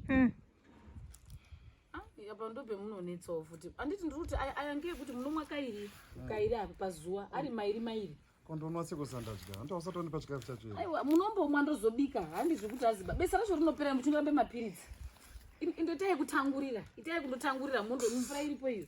mm. apa ndobe munonetsawo futi anditi ndiri kuti ayange ekuti munomwa kairi mm. kairi apa pazuva ari mairi mairi kondonwa sekusandadya hanti wasatonipa chikafu chacho aiwa munombomwa ndozobika handi zvekuti aziba besa racho rinopera muchingorambe mapiritsi indoita yekutangurira ita yekundotangurira mondo mvura iripo iyo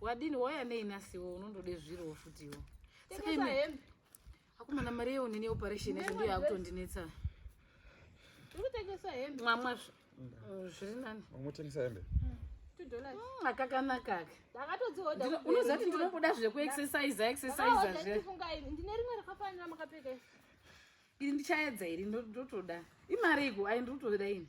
Wadini wauya nei nasiwo unondoda zviriwo futiwo. Saka imi akomana mari yewo nini operation yacho ndiyo yakutondinetsa. Uri kutengesa hembe. Mwamwa mm, zviri nani? Unotengesa hembe? Mm. Mm, akakanaka aka. Ndakatodzihodha. Unoziva kuti ndinobuda zvekuexercise exercise zve. Ndine rimwe rakafanira makapfeka. Iri ndichaedza iri ndotoda. Imari iko ayi ndotoda ini.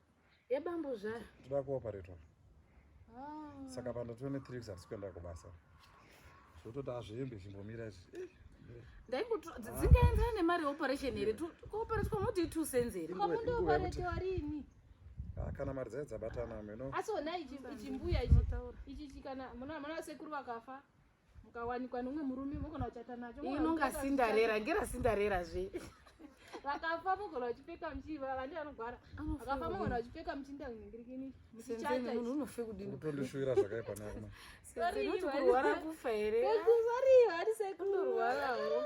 yebambuzvara ndoda kuoperatwa ah. saka panda 23 weeks hatisi kuenda kubasa zvototi azviembe chimbomira izvi eh, eh. ndaingoto dzingaendaa nemari yeoperation here kuoperatwa moti two cents here kwamundoparetiwa rini ah, kana mari dzaye dzabatana mino asi ona ichimbuya ichi ichi kana muna sekuru vakafa mukawanikwa nomwe murume mogona kuchata nacho inonga sindarera ngera sindarera zve vakafa mogona vachipfeka muchiva vandi vanogwara vakafa mogona vachipfeka muchinda kuningirikini muchichatamunhu unofe kudinitondishuira zvakaipa nakumakurwara kufa here vari sekundorwarawo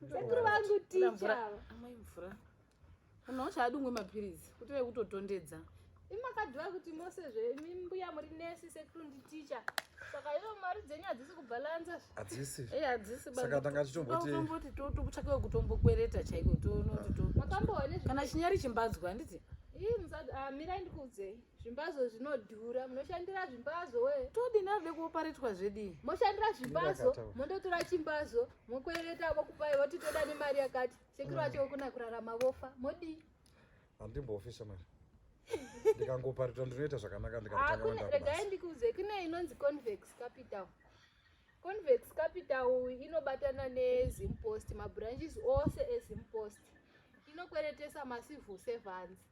sekuru vangu ticha amai mvura munhu wacho adungwe mapiritsi kuti ve kutotondedza imakadhiwa kuti mose zvemimbuya muri nesi sekuru nditicha saka iyo mari dzenyu hadzisi kubhalansa hadzisi e hadzisi saka tanga tichitomboti tokutsvaka wekutombokwereta chaiko toona kuti to kana chinyari chimbadzwa handiti ii musad ah, mirai ndikuudzei Zvimbazo zvinodhura, munoshandira zvimbazo we. Todi nave kuoparetwa zvedi. Moshandira zvimbazo, mondotora chimbazo, mokwereta vokupai voti toda nemari yakati. Sekuru mm. vacho kuna kurarama vofa, modi. Handimbofi shamari. Ndikangoparitwa ndinoita zvakanaka ndikatanga kwenda. Regai ndikuuze kune inonzi convex capital. Convex capital inobatana neZim Post, mabranches ose eZim Post. Inokweretesa macivil servants.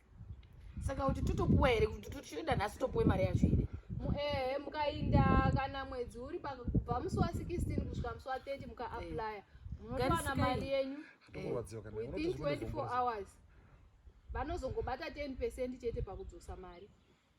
saka kuti totopuwa here kuti totoda nhasi topuwe mari yacho here ehe mukainda kana mwedzi uri pakubva musi wa 16 kusvika musi wa 30 mukaaplya eh. munotowana mari yenyu eh, within 24 hours vanozongobata 10 percent chete pakudzosa mari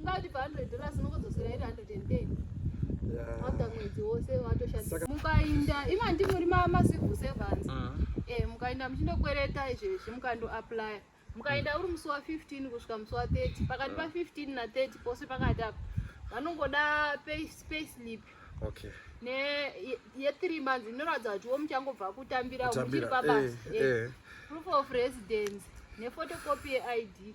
Ungatipa 100 dollars unongodzosera iri 110. After mwedzi wose watoshandisa. Mukainda ima ndimuri mama civil servants. Ah. Eh mukainda muchindokwereta izvi izvi mukando apply. Mukainda uri musi wa 15 kusvika musi wa 30. Pakati pa 15 na 30 pose pakati apa. Vanongoda pay pay slip. Okay. Ne ye 3 months inoratidza kuti wo muchangobva kutambira muchiri pabasa. Eh, eh. eh. Proof of residence ne photocopy ye ID.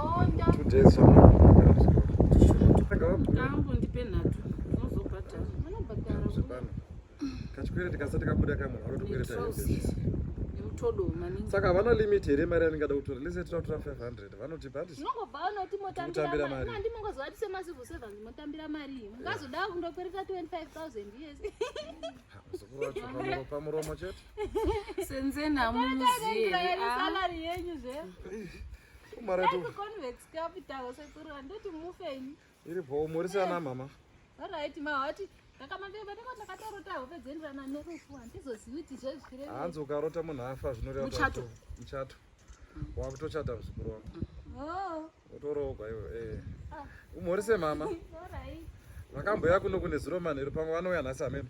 kachikwereti kasati kabuda kamwe anotokwireta saka havana limit here mari yaningada kutora lese tinotora 500 vanotipa handitambira maripamuromo chete senzeni hamuzivi iri bhoo morisana mama orit mahoti ndakamaeaakatarota hope dzendirana nerufu handizozivi kuti zvezvire hanzi ukarota munhu afa zvinoreamuchato muchato wakutochata muzukuru wangu oh. utoroogwa iwe eh. ah. umorise mama vakamboya kuno kune zuro manheru pamwe vanouya nhasi amene